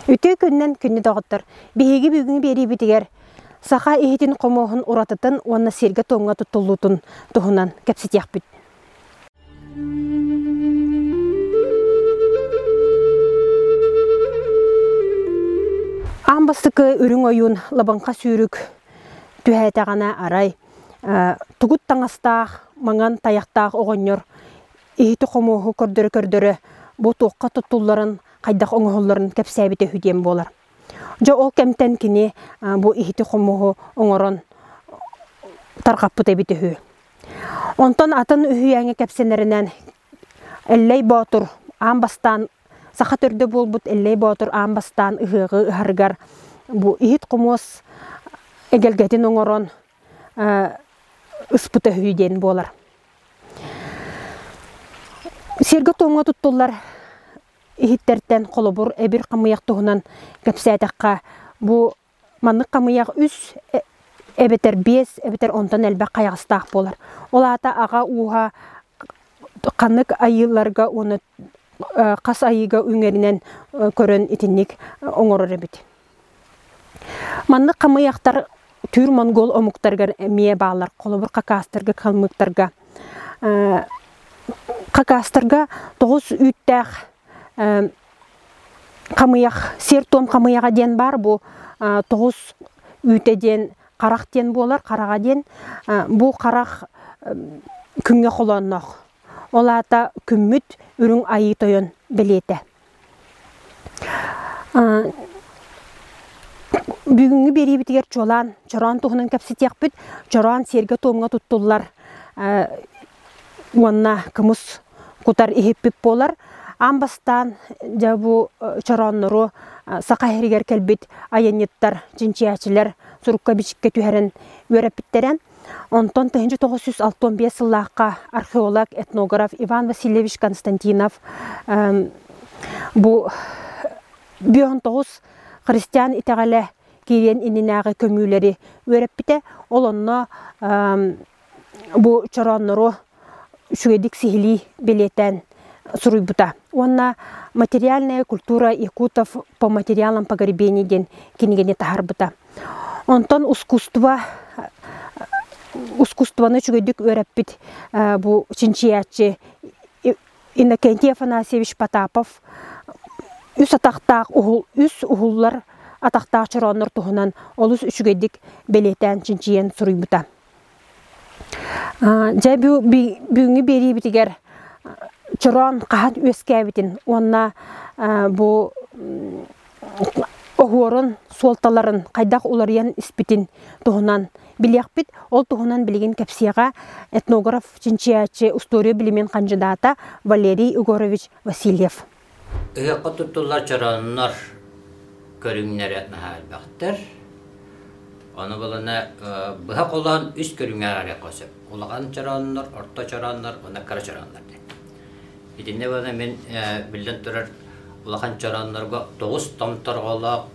Үтүө күнүнэн күнү доҕоттор! Биһиги бүгүҥҥү биэриибитигэр саха иһитин-хомуоһун уратытын уонна сиэргэ-туомҥа туттуллуутун туһунан кэпсэтиэхпит. Аан бастакы үрүҥ ойуун лабыҥха сүүрүк түһээтэҕинэ арай тугут таҥастаах, маҥан тайахтаах оҕонньор иһити-хомуоһу көрдөрө-көрдөрө бу туохха туттулларын, хайдах оҥоһулларын кэпсээбитэ үһү диэн буолар. Дьэ ол кэмтэн кини бу иһити-хомуоһу оҥорон тарҕаппыт эбит үһү. Онтон атын үһүйээҥҥэ кэпсэнэринэн Эллэй Боотур аан бастаан саха төрдө буолбут Эллэй Боотур аан бастаан ыһыаҕы ыһарыгар бу иһит-хомуос эгэлгэтин оҥорон ыспыт өһүй диэн буолар. Сиэргэ-туомҥа туттуллар иһиттэртэн холобур эбир хамыйах туһунан кэпсээтэххэ бу маннык хамыйах үс э, эбэтэр биэс эбэтэр онтон элбэх хайаҕастаах буолар. Ол аата аҕа ууһа ханнык айыыларга уонна э, хас айыыга үҥэринэн э, көрөн итинник оҥорор эбит. Маннык хамыйахтар түүр монгуол омуктарыгар эмиэ бааллар. Холобур, хакастарга, калмыктарга. Э, хакастарга тоҕус үүттээх э, хамыйах, сиэр-туом хамыйаха диэн баар бу э, тоҕус үүтэ диэн харах диэн буолар, хараҕа диэн. Э, бу харах э, күҥҥэ холоонноох. Ол аата күммүт үрүҥ айыы тойон бэлиэтэ. Бүгүҥҥү биэриибитигэр чуолаан чороон туһунан кэпсэтиэхпит. Чороон сиэргэ-туомҥа туттуллар уонна кымыс кутар иһиппит буолар. Аан бастаан дьэ бу чорооннору Саха иһэригэр кэлбит айанньыттар, чинчийээччилэр сурукка-бичиккэ түһэрэн үөрэппиттэрэ. Онтон төһүнчэ тоҕус сүүс алта уон биэс сыллаахха археолог, этнограф Иван Васильевич Константинов бу бүөһүн тоҕус христиан итэҕэлэ киириэн иннинээҕи көмүүлэри үөрэппитэ. Ол онно бу чорооннору үчүгэйдик сиһилии бэлиэтээн суруйбута уонна материальная культура якутов по материалам погребений диэн кинигэни таһаарбыта онтон ускусство ускусствоны үчүгэйдик үөрэппит бу чинчийээччи иннокентий афанасьевич потапов үс атахтаах уһул үс уһуллар атахтаах чорооннор туһунан олус үчүгэйдик бэлиэтээн чинчийэн суруйбута Дьэ бүгүҥҥү биэриибитигэр чороон хаһан үөскээбитин уонна бу оһуорун суолталарын хайдах уларыйан испитин туһунан билиэхпит. Ол туһунан билигин кэпсиэҕэ этнограф-чинчийээччи, устуоруйа билимин хандьыдаата Валерий Егорович Васильев. Ыһыахха туттуллар чорооннор көрүҥнэрэ наһаа элбэхтэр. Ону булана быһа холоон үс көрүҥҥэ аҕалыахха сөп: улахан чорооннор, орто чорооннор уонна кыра чорооннор диэн. Итиннэ буолан мин биллэн турар улахан чорооннорго тоҕус томторҕолоох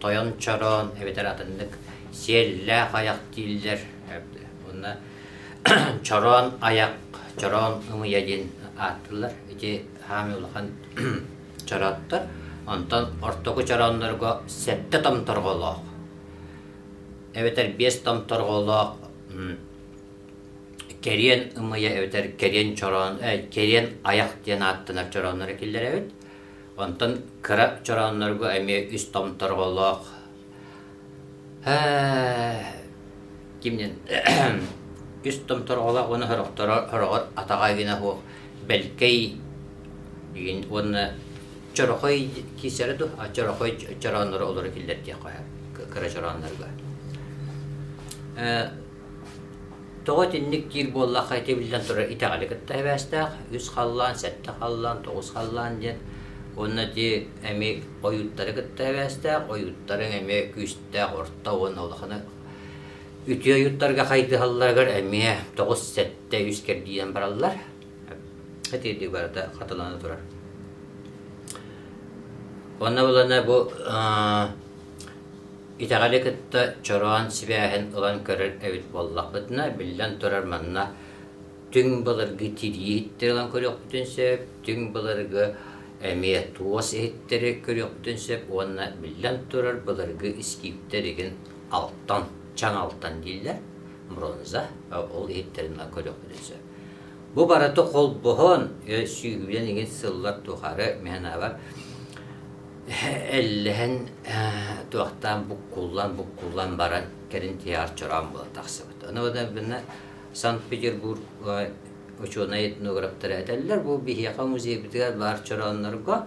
тойон чороон эбэтэр атыннык сиэллээх айах дииллэр. Уонна чороон айах, чороон ымыйа диэн ааттыыллар. Ити хаамыы улахан чорооттор. Онтон ортоку чорооннорго сэттэ томторголоох эбэтэр биэс томторголоох кэриэн ымыйа эбэтэр кэриэн чороон э, кэриэн айах диэн ааттанар чорооннор киллэрэбит. Онтон кыра чорооннорго эмиэ үс томторголоох Кимнин үс томторголоох уонна сорохторо сороҕор атаҕа суох бэлкэй уонна чорохой киирсэрэ дуо чорохой чороонноро олоро киллэр диэх кыра чорооннорго Тоҕо итинник диир буоллахха ити биллэн турар итэҕэли кытта эбээстээх үс халлаан, сэттэ халлаан, тоҕус халлаан диэн уонна ити эми ойууттары кытта эбээстээх, ойууттарыҥ эмиэ күүстээх орто уонна улаханы үтүө ойууттарга хайдыһалларыгар эмиэ тоҕус, сэттэ, үс кэрдиинэн бараллар. Итиитик барыта хатылана турар. Онно булана бу Итэҕэли кытта чороон сибээһин ылан көрөр эбит буоллахпытына, биллэн турар, манна түҥ былыргы тирии иһиттэри ылан көрүөхпүтүн сөп, түҥ былыргы эмиэ туос иһиттэри көрүөхпүтүн сөп уонна биллэн турар, былыргы искииптэр игин алтан, чаҥ алтан дииллэр, бронза, ол иһиттэрин ылан көрүөхпүтүн сөп. Бу барыта холбоһон, сүүһүнэн игин сыллар тухары мээнэбэр Иллэһин туохтаан буккуллан буккуллан баран кэлин театрчараан була тахсыбыт. Ону гынан Санкт-Петербург учуонай этноgraфтара этэллэр бу биһиэхэ музейбитигэр баар чорооннорго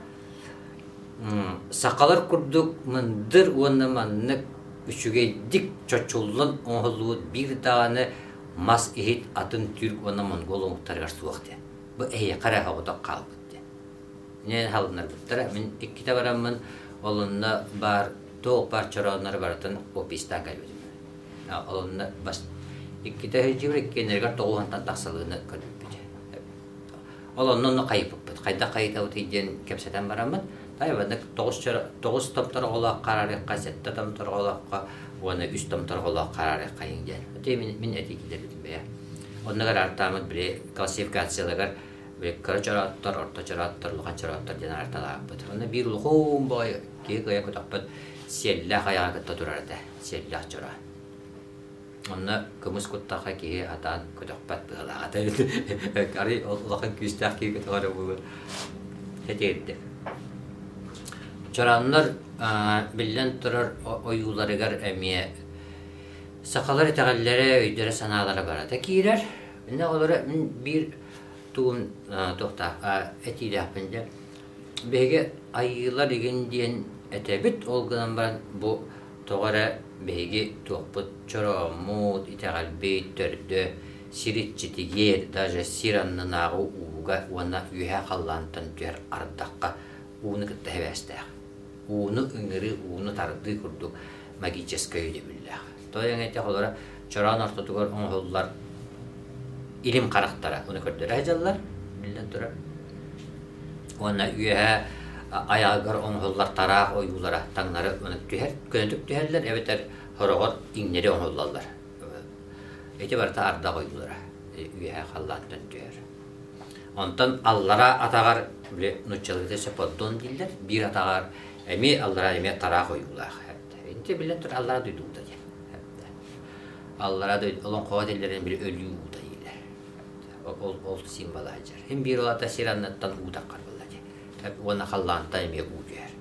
сахалар курдук мындыр уонна маннык үчүгэйдик чочуллан оҥоһуллубут биир даҕаны мас иһит атын түрк уонна монгол омуктарыгар суох диэн. Бу эйиэхэ эрэ хоҕотох хаалбыт диэн. Дьэ, халыннарбыттара. Мин иккитэ бараммын, ол онно баар туох баар чорооннары барытын опиыстаан кэлбитим. Олонно бас иккитэ сылдьыбыт иккиэннэригэр тоҕуһантан тахсалыыны көрбүппүт. Ол онно онно хайыппыппыт. Хайдах хайытабыт диэн кэпсэтэн бараммыт. Тайваннык тоҕус тоҕус томтороҕолоох хараарыхха, сэттэ томтороҕолоохха уонна үс томтороҕолоох хараарыххайын диэн. Мин этии китербитим бэйэ. Оннугар артаамыт били классификацияларыгар Веккара чорааттар, орто чорааттар, улахан чорааттар диэн арталааппыт. Уонна биир улахан баай киһи кыйа көтөхпөт сиэллээх айаҕа кытта турар этэ. Сиэллээх чораа. Онно кымыс куттаахха киһи атаан көтөхпөт быһалаата. Арый улахан күүстээх киһи көтөҕөрө буолуо. Хэтиэрдэ. Чорааннар биллэн турар ойууларыгар эмиэ сахалар итэҕэллэрэ, өйдөрө-санаалара барата киирэр. Инна олору биир тугун туохтаахха этиилээхпин дэ биһиги айыылар игин диэн этэбит ол гынан баран бу тоҕо эрэ биһиги туохпут чорооммут итэҕэлбит төрдө сир иччитигиэр даже сир аннынааҕы ууга уонна үөһэ халлаантан түһэр ардахха ууну кытта сибээстээх ууну ыҥырыы, ууну тардыы курдук магическай өйдөбүллээх. Той эҥэтэх олоро чороон ортотугар оҥоһуллар илим харахтара уну көрдөрө сылдьаллар, биллэн турар. Уонна үөһэ айаҕыгар оҥоһуллар тараах ойуулара таҥнары ынык түһэр, көнөтүк түһэллэр эбэтэр хороҕор иҥнэри оҥоһуллаллар. Ити барыта ардах ойуулара үөһэ халлаантан түһэр. Онтон аллараа атаҕар, били нууччаларга сеподдон дииллэр, биир атаҕар эмиэ аллараа эмиэ тараах ойуулаах эбдэ. Инте биллэн турар аллараа дойду уута диэн эбдэ. Аллараа дойду олоҥхоҕо тиллэрин били өлүү уута дииллэр. Ол ол символа сылдьар. Һин биир олата сир анныттан уу таххар буолла дии. Уонна халлаанта эмиэ уу түһэр.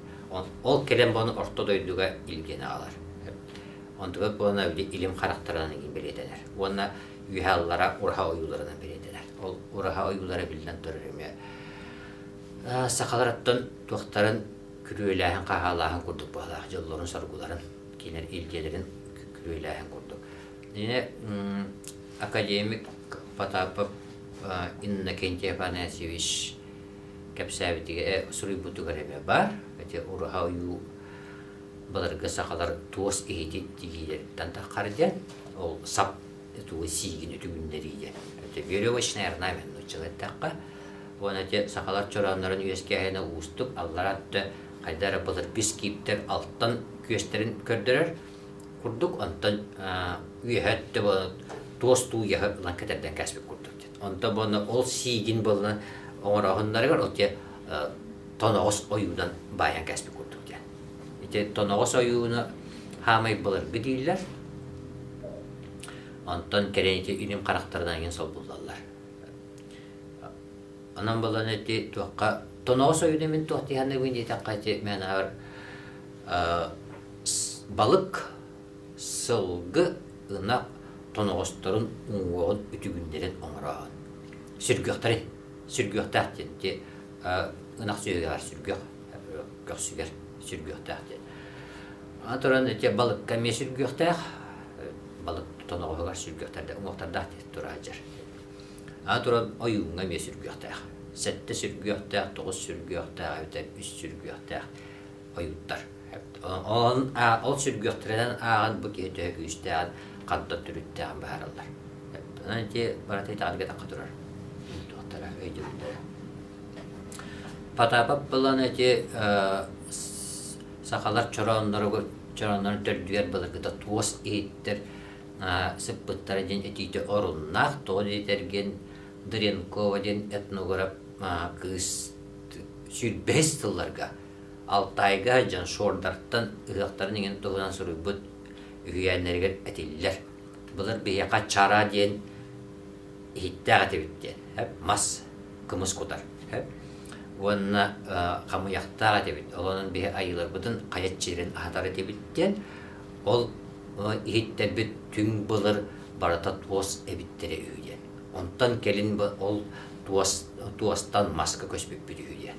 Ол кэлэн буону орто дойдуга илгиэн аҕалар. Онтубут буолана били илим харахтарынан бэлиэтэнэр. Уонна үөһэ аллара ураһа ойууларынан билиннилэр. Ол ураһа ойуулара биллэн турар эмиэ сахаларыттан туохтарын күрүөлээһин хаһаалааһын курдук быһалаах дьоллорун-соргуларын кинер илдиэлэрин күрүөлээһин курдук. Ine академик Потапов Иннокентий Афанасьевич кэпсээбитигэ суруйбутугар эбэ бар. Эти ураха ойуу Былыргы сахалар туос иһити тигиилэриттэн таххардьа, ол сап тугу сиигин үтүгүннэриигэ. Это веревочный орнамент нуччалар тахха. Уона те сахалар чорооннорун үөскээһинэ уустук аллара атты хайда эрэ былыргыс кииптер алтан күөстэрин көрдөрөр. Курдук онтон үөһэ төбө туос туу яһы ылан кэтэрден кәсбик курдук. Онто буонна ол сиигин болла оҥороһуннарыгар ол те тоноҕос ойуунан баайан кэспит курдук диэн. Ити тоноҕос ойууну хаамай былыргы дииллэр. Онтон кэрэн ити үнүм харахтарынан иҥин солбуллаллар. Онон болан эти туохха тоноҕос ойууна мин туох диһанныбын диэтэн қайти мәнаһар балык сылгы ынах тоноҕосторун уҥуоҕун үтүгүннэрэн оҥорооһун. Сүргүөхтэрин, сүргүөхтээх диэн ити ынах сүөһүгэр сүргүөх көхсүгэр сүргүөхтээх диэн. Аны туран ити балыкка эмиэ сүргүөхтээх, балык тоноҕоһугар сүргүөхтэрдээх, уҥуохтардаах диэн тураадьар. Аны туран ойууҥҥа эмиэ сүргүөхтээх. Сэттэ сүргүөхтээх, тоҕус сүргүөхтээх эбэтэр үс сүргүөхтээх ойуттар. Ол, ол сүргүөхтэринэн ааҕан бу киһи төһө күүстээх, ханта түрүттээх баараллар. Ити барата итаҕар кэтахха турар. Туохтара өйдүллэрэ. Потапап булан эти сахалар чорооннору чорооннору төрдүгэр былыргыта туос иһиттэр сыппыттара диэн этиитэ оруннаах тоҕо диэтэргин Дренкова диэн этнограф кыыс сүүрбэһис тылларга Алтайга Джансордартан ыһыахтарын иҥин туһунан суруйбут үһүйээннэригэр этиллэр. Былыр биһиэхэ чара диэн иһиттээх этибит диэн мас кымыс кутар уонна хамыйахтаах этибит. Олонон биһи айыыларбытын хайат чилирин аһатар этибит диэн ол иһиттэрбит түҥ былыр барыта туос эбиттэрэ үһү диэн. Онтон кэлин ол туос туостан маска көспүппүт үһү диэн.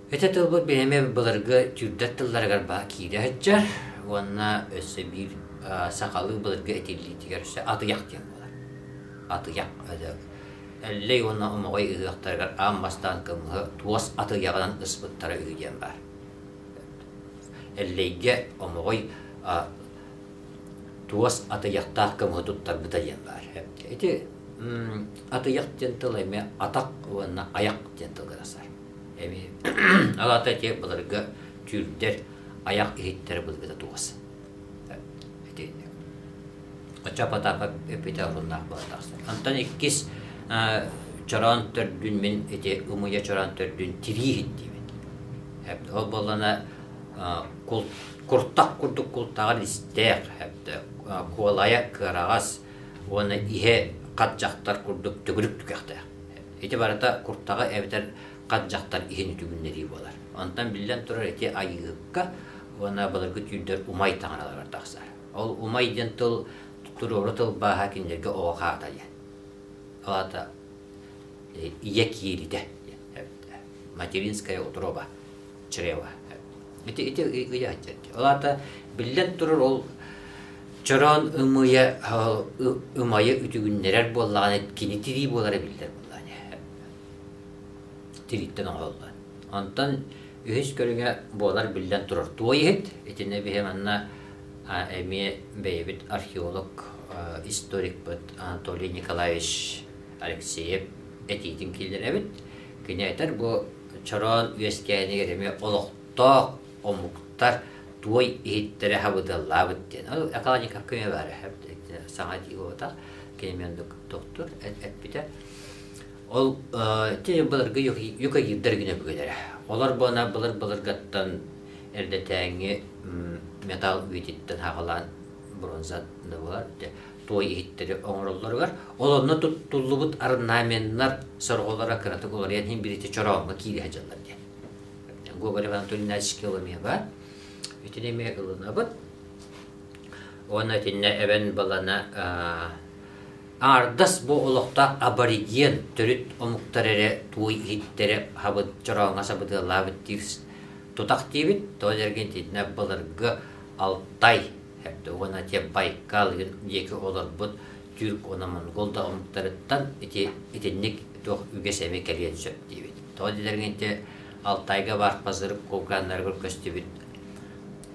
Этэ тылбыт бэйэми былыргы түүрдэр тылларыгар баһа киирэ сылдьар уонна өссө биир сахалыы былыргы этиллиитигэр өссө атыйах диэн буолар. Атыйах Эллэй уонна омоҕой ыһыахтарыгар аан бастаан кымыһы туос атыйаҕынан ыспыттара үһү диэн баар. Эллэйгэ омоҕой туос атыйахтаах кымыһы туттарбыта диэн баар. Ити атыйах диэн тыл эмиэ атах уонна аяқ диэн тылга тасар. Эбии алаата те былырга түүрдэр аяк иһиттэр былыргыта тугас. Ити оча потапа эппитэ булнаах баатахсан. Антон иккис чороон төрдүн мин эти умуя чороон төрдүн тирииһин диибит. Ол боллана куртах курдук култаҕар истээх куолайа кыараҕас уонна иһэ хат дьахтар курдук төгүрүк түгэхтээх. Ити барыта куртаҕы эбэтэр хат дьахтар иһин үтүгүннэрии буолар. Онтон биллэн турар ити айыыһыкка уонна былыргы түүрдэр умай таҥаралар тахсар. Ол умай диэн тыл туруору тылбааһа кинилэргэ оҕо хаатайа. Алата ийэ кииритэ материнская утроба чрево. Ити ити ыйа Ол аата биллэн турар ол чороон ымыйа ымайы үтүгүннэрэр буоллаҕына кини тирии буолара биллэр буоллаҕына тирииттэн оҥоһуллан. Онтон үһүс көрүҥэ буолар биллэн турар туой иһит итиннэ биһи манна эмиэ бэйэбит археолог историкпыт Анатолий Николаевич Алексеев этиитин киллэрэбит. Кини этэр бу Чороон үөскээнигэр эмиэ олохтоох омуктар туой иһиттэрэ хабыдаллаабыт диэн. Ол экологика көмө баар саҥа дии буолбатах. Кинимен доктор эппитэ. Ол былыргы юка гиддер гіне бүгүлэрэ. Олор буона былыр-былыргаттан эрдэтээҥи металл үйдиттен хаҕалаан бронза да туой иһиттэри оҥороллоругар, ол онно туттуллубут орнаменнар сорҕолоро кыратык уларыйан иһин билиэти чорооҥҥо киириһэ дьаллар диэн. Гоголь Анатолий Иванович Коломева итиниме ылынабыт. Уонна итиннэ эбэн балана ардас бу олохтоох абориген төрүт омуктар эрэ туой иһиттэри хабыт чорооҥҥо сабытыалаабыт диир тутах диибит. Тоз эрген итиннэ баларга Алтай Эрдэ уона те Байкал диэки олорбут тюрк уона монгол да омуктарыттан ити итинник туох үгэс эми кэлиэн сөп диибит. Тоҕо дилэргин ити Алтайга бар пазыр кулгааннарыгар көстүбүт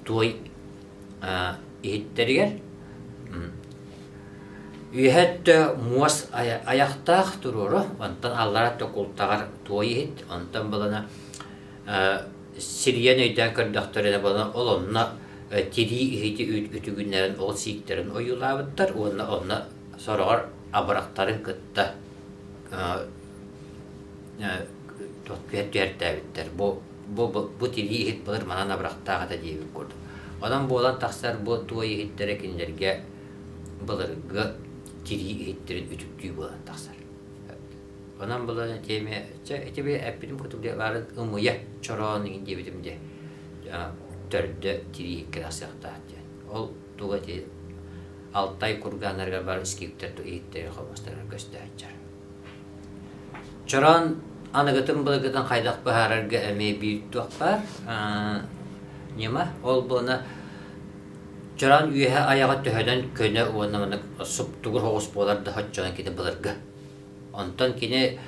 туой иһиттэригэр үөһэ өттө муос аяхтаах туруора, онтон аллара өттө култаҕар туой иһит, онтон булана сирийэн өйдөөн көрдөхтөрүнэ ол онно тирии иһити үтүгүннэрэн ол сииктэрин ойуулаабыттар уонна онно сороҕор абырахтарын кытта түһэртээбиттэр бу бу тирии иһит былыр манан абырахтаах этэ диэбит курдук онон буолан тахсар бу туой иһиттэрэ кинилэргэ былыргы тирии иһиттерин үтүктүү буолан тахсар Онон былыр тиэми чэ итиби эппитим кутук диэ баарын ымыйа чороон игин диэбитим диэ төрдө тирии икки тахсыахтаах диэн. Ол туга ити Алтай кургааннарыгар бар скиптер иһиттэри холбастарыгар көстөөччөр. Чороон аныгытын былыгытын хайдах быһаарарга эмиэ биир туох баар ньыма ол буона чороон үөһэ аяҕа төһөнөн көнө уонна маннык суптугур хоҕус буолар да оччонон кити былыргы Онтон кини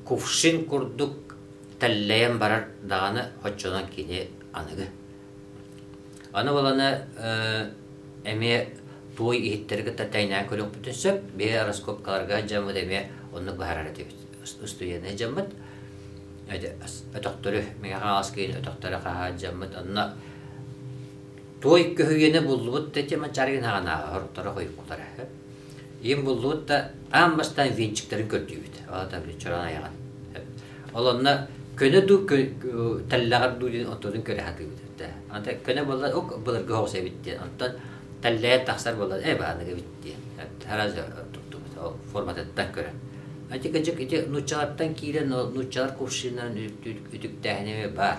кувшин курдук тэллэйэн барар даҕаны оччонон кини аныгы. Аны баланы эмиэ туой иһиттэри кытта тэйнээн көрүөхпүтүн сөп. Бие раскопкаларга дьаммыт эмиэ оннук баһарар этибит. Устуйаны дьаммыт. Өтөхтөрү, миңэ хаҥас киин өтөхтөрү хаһаадьаммыт. Онно туой көһүйэни буллубут да тема чаргын хаганааҕа хорторо хойуккулара. Ийэм буллубут да аан бастаан венчиктэрин көрдүүбүт. Олата били чороон айаҕын. Олонно көнө дуу тэллэҕэр дуу диэн оттотун көрө сатыыбыт. Онтон көнө буолла ук былыргы оҕус эбит диэн. Онтон тэллэйэ тахсар буолла э бааныг эбит диэн. Тараз оттуктубут. Ол форматыттан көрөн. Антик ити нууччалартан киирэн нууччалар кувшиннарын үтүктээһинэ баар.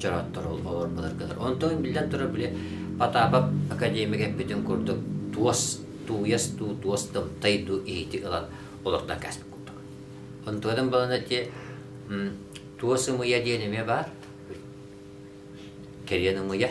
чороттору олормаларгалар. Онтон биллэн турар били Потапов академик эппитин курдук туос тууяс туу туос тымтай дуу иһити ылан олортон каспит курдук. Онтуодан балана те туос ымыя диэн эмиэ баар. Кэриэн ымыя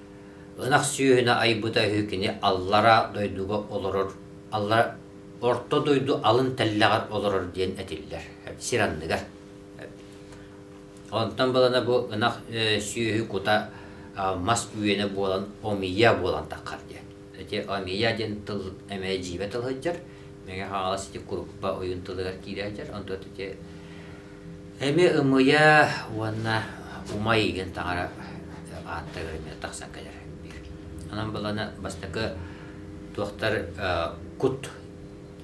Ынах сүөһүнэ айбыта үһү кини аллараа дойдуга олорор, аллара Орто дойду алын тэллэҕэр олорор диэн этиллэр сир анныгар. Онтон балана бу ынах сүөһү кута мас үөнэ буолан омия буолан таххар диэн. Ити омия диэн тыл эмэ дьиибэ тылһыдьар, Мэҥэ Хаҥалас ити куруппа ойуун тылыгар киирэ сылдьар, онтон ити Эми ымыйа уонна умай игин таҥара ааттаах эмиэ тахсан кэлэр биир. Онон буолана бастакы туохтар кут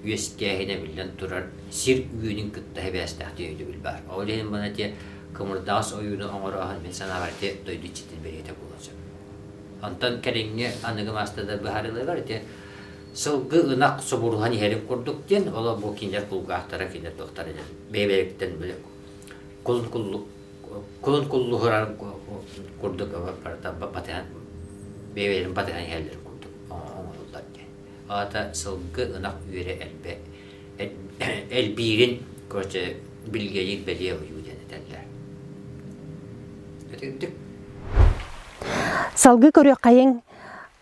үөскээһинэ биллэн турар сир үөнүн кытта сибээстээхтик өйдөбүл баар. Ол иһин буолана ити кымырдаҕас ойуунун оҥорооһун мин санаабар ити дойду иччитин бэлиэтэ буолуон сөп. Онтон кэлиҥҥи аныгы маастардар быһаарыыларыгар ити сылгы ынах субуруһан иһэрин курдук диэн, оло бу кинилэр кулгаахтара кинилэр туохтара диэн бэйэ-бэйэбиттэн били кулун куллу кулун куллуһурар курдук батыһан бэйэлэрин батыһан иһэллэр курдук оҥоруллар диэн. Аата сылгы ынах үөрэ элбэ элбиирин короче билгейир бэлиэ уйуу диэн этэллэр. Салгыы көрүөх хайың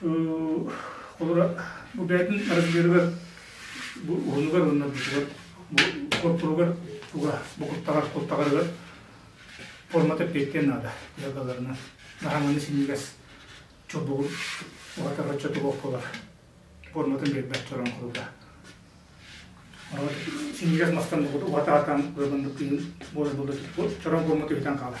Холобура, бу бэйэтин арыгыһыгар, бу уһунугар уонна бурдугар, бу хотуругар туга букуттаҕар-куттаҕарыгар формата эппиэттиэн наада. Куйакаларынан наһаҥаны синньигэс чобугун уһатар оччо тобох буолар форматын биэрбэт чорон куруута. Онон синньигэс мастан уһатаатаан куйаканды тыын буолар буолар чорон формата бүтэн хаалар.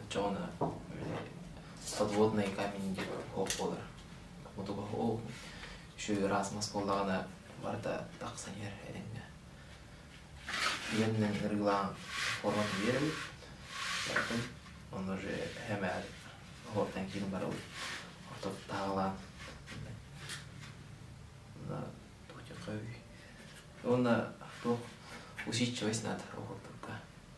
оччоҕуна подводный камень диэн оһох буолар мутук оһох еще раз мас буоллаҕына барыта тахсан иһэр этэҥҥэ үөннэн ырыылаан форманы биэрэбит бартын ону же хэмээр оһортан киирин барабыт ортот таалаан уонна туох усидчивость надо оһортурга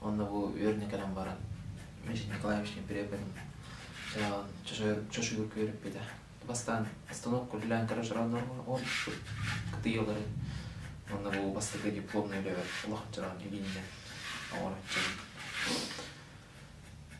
Онно бу үөрэнэ кэлэн баран Василий Николаевичтыын приехали чочуйга күөрүппүтэ. Бастаан остановка үлэлээн көрөр сорооннорго оонньуппут кытыйалары уонна бу бастакы дипломнай үлэбэр улахан чороон илииннэн оҥороччубун.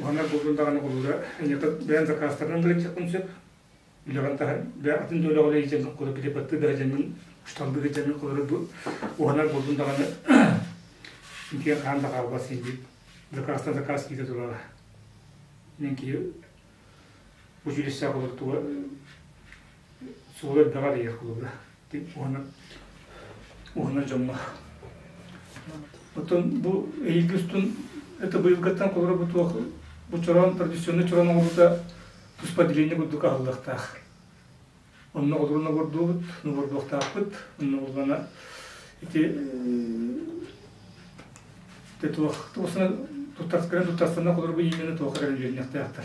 уһанар буолбут даҕаны болуура эньата бэйэн закастарынан гырыччаккын сөп үлэҕин таһа бэйэ атын да үлэҕэ илдьэн кура переподты да дьаҥын шталды да дьаҥын холору бу уһанар буолбут даҕаны киэн хаан да хаалбас иди закастан заказ киите турара мен ки училище болор туга суол элбэҕэ эрийэр кулуба уонна уонна дьоҥҥо оттон бу эйиги устун это быйылгыттан холоро бу туох бу чороон традиционный чороон оҥоруута туспа деление курдук аһыллыахтаах онно холоруна бордуубут нувордуохтаахпыт онно булгана ити те туох туосна туттарскаран туттарсана холорбу иимэни туох эрэр үлүннэхтээхтар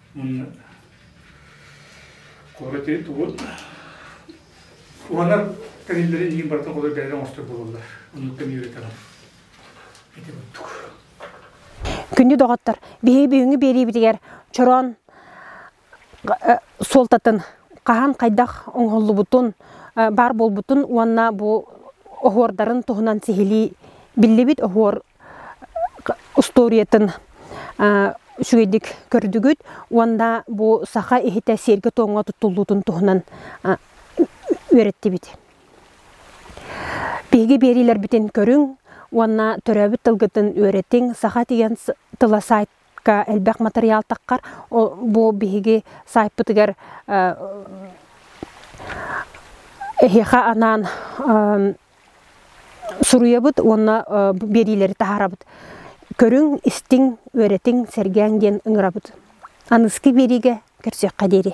Куораты тугут Уһанар кэниллэри иһин барыта холой бэйэлэр оҥостор буолаллар. Оннуктан үөрэтэҕин. Эти буттук. Күннү доҕоттор, биһиги бүгүҥҥү биэриибитигэр чороон суолтатын хаһан хайдах оҥоһуллубутун, баар буолбутун уонна бу оһуордарын туһунан сиһилии биллибит оһуор устуоруйатын үчүгэйдик көрдүгүт уонна бу саха иһитэ сиэргэ-туомҥа туттуллуутун туһунан үөрэттибит. Биһиги биэриилэрбитин көрүҥ уонна төрөөбүт тылгытын үөрэтиҥ, саха тиһэн тыла сайт элбэх матырыйаалтаххар бу биһиги саайпытыгар эһиэхэ анаан суруйабыт уонна биэриилэри таһаарабыт көрүҥ истиҥ үөрэтиҥ сэргээҥ диэн ыҥырабыт аныскы биэриигэ көрсүөххэ диэри